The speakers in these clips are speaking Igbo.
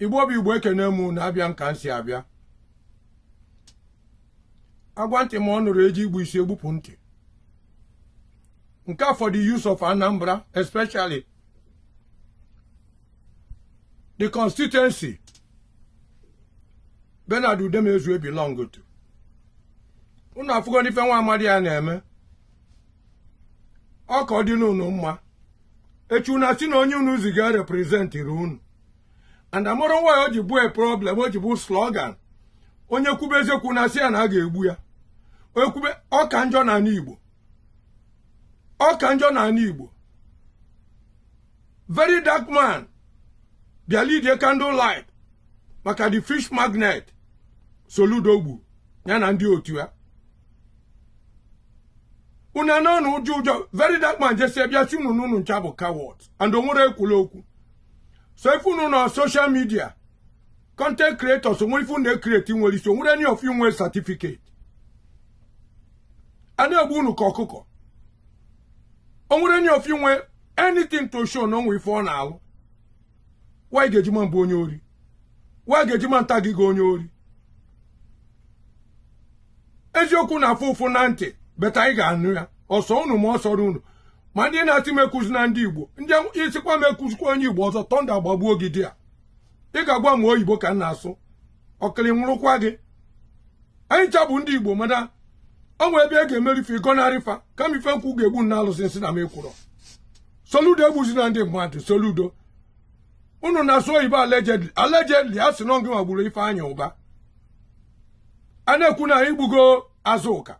igbo bụ igbo ekene m unu abịa m ka m si abịa agwa ntị ma ọ nụrọ eji igbu isi egbupụ ntị nke a for the youths of anambra especially the constituency bernard udemezue belong to unu afụgo ife nwa amadị a na-eme ọ ka dị unu mma echi unu asị na onye unu ziga reprezentịrị unu and amụrụ nwa ya o ji bụ a problem o ji bụ slogan onye kwube eziokwu a na-asị ya na a ga-egbu ya onye kwube ọ ka njọ na anị igbo ọ ka njọ na anị igbo very dark man bịa lidie candle light maka the fish magnet soludo gbu ya na ndị otu ya unu anọ n'ụjọ ụjọ very dark man jesi bịa sị unu na unu ncha bụ coward and onwerọ ekwulu okwu sọ ife unu na social media content creators onwere ife unu ekreti nwere isi onwere any of you nwere certificate a na-egbu unu ka ọkụkọ onwere any of you nwere anything to show na onwe ife ọ na-alụ nwa ị ga-eji ma mbụ onye ori nwa ị ga-eji ma nta gị ga onye ori eziokwu na-afụ ụfụ na ntị but anyị ga-anụ ya ọ sọ unu ma ọ sọrọ unu ma ndị na-asị m ekwuzina ndị igbo ngị sịkwa m ekwuzikwa onye igbo ọzọ thunder gbagbuo gị there ị ga-agwa m oyibo ka m na-asụ ọkịrị nwụrụkwa gị anyị ncha bụ ndị igbo mana ọ nwere ebe ị ga-eme ife ị gọnarị fa kama ife nkwụ ga-egbu na alụsị nsị na m ekwurọ soludo egbuzina ndị mmadụ soludo unu na-asụ oyibo allegedly allegedly a sị na ngị nwa gburu ifeanyi ubah a na-ekwu na anyị gbugo azuka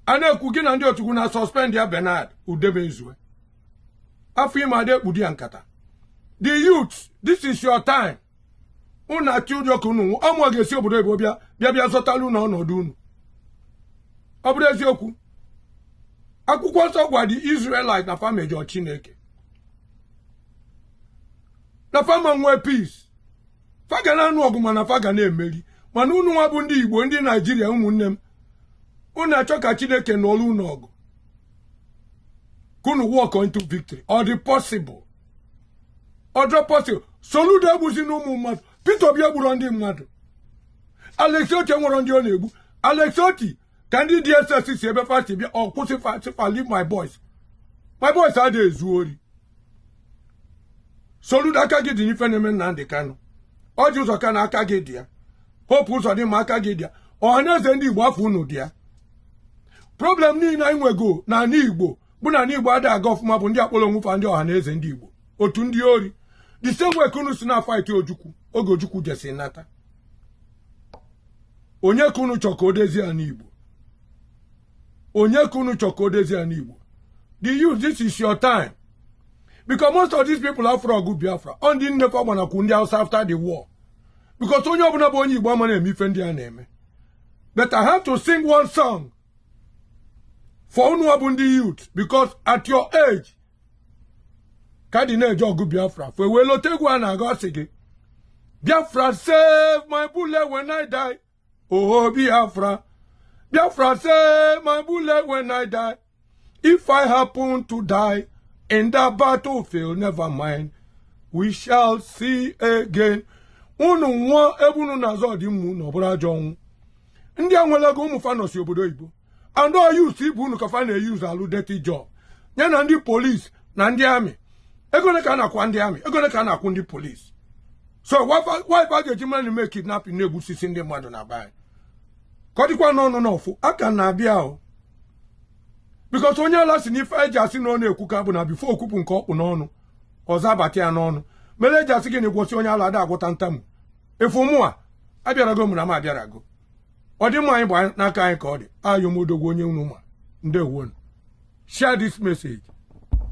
a na-ekwu gị na ndị otu gị na suspend ya Bernard Udemezue afọ ime a da ekpudo ya nkata the youth this is your time unu atụ ụjọ ka unu ọmụ ga-esi obodo ebo bịa bịa bịa zọtara unu ọnọdụ unu ọ bụrọ eziokwu akwụkwọ nsọ gwa the Israelite na fa mejọ Chineke na fa ama nwee peace fa ga na-anụ ọgụ mana fa ga na-emeri mana unu nwa bụ ndị Igbo ndị Naijiria ụmụnne m unu achọ ka Chineke nụọrọ unu ọgụ ka unu walk into victory ọ dị possible ọ dịrọ possible soludo egbuzina ụmụ mmadụ peter obi egburọ ndị mmadụ alex oti enwerọ ndị ọ na-egbu alex oti ka ndị dss si ebe fa si bịa ọ kwụsị fa sị fa leave my boys my boys ada ezu ori soludo aka gị dị n'ife na-eme nnamdị kanụ orji ụzọ kalu aka gị dị ya hope ụzọdịmma aka gị dị ya ọhanaeze ndị igbo afa unu dị ya problem niile anyị nwego n'anị igbo bụ na ndị Igbo ada aga ọfụma bụ ndị kpọrọ onwe fa ndị Ọhanaeze ndị Igbo otu ndị ori the same way ka unu si na-afight Ojukwu oge Ojukwu jesi nata onye ka unu chọọ ka o dezie ya n'Igbo onye ka unu chọọ ka o dezie ya n'Igbo the youth this is your time because most of these people afụrọ ọgụ Biafra ọ ndị nne fa gbanakwu ndị Hausa after the war because onye ọbụla bụ onye Igbo ama na-eme ife ndị a na-eme but I have to sing one song for unu nwa bụ ndị youth because at your age ka dị na-eje ọgụ biafra afụ e wee lote egwu a na-agụ asị gị biafra save my bullet when i die oho biafra biafra save my bullet when i die if i happen to die in the battlefield never mind we shall see again unu nwụọ ebe unu na-azọ ọdịmma unu ọ bụrọ ajọ ọnwụ ndị a nwere ego ụmụ fa nọsị obodo oyibo and ọ youths ibe unu ka fa na-use alụ dirty job ya na ndị police na ndị army ego ole ka a na-akwụ ndị army ego ole ka a na-akwụ ndị police so ọ ife a ga-eji mmadụ mee kidnapping na-egbusisi ndị mmadụ na be ka ọ dịkwa n'ọnụ n'ofu aka na-abịa ahụ because onye ala sị na ife e ji asị na ọ na-ekwuka bụ na before o kwupụ nke ọ kpụ n'ọnụ ọzọ abata ya n'ọnụ mere e ji asị gị na ị gwọsịa onye ala a da agwọta ntamu efu mụnwa abịarago ụmụnna m abịarago ọdịmma anyị bụ n'aka anyị ka ọ dị I am Odogwu onye unu ma ndewo nu share this message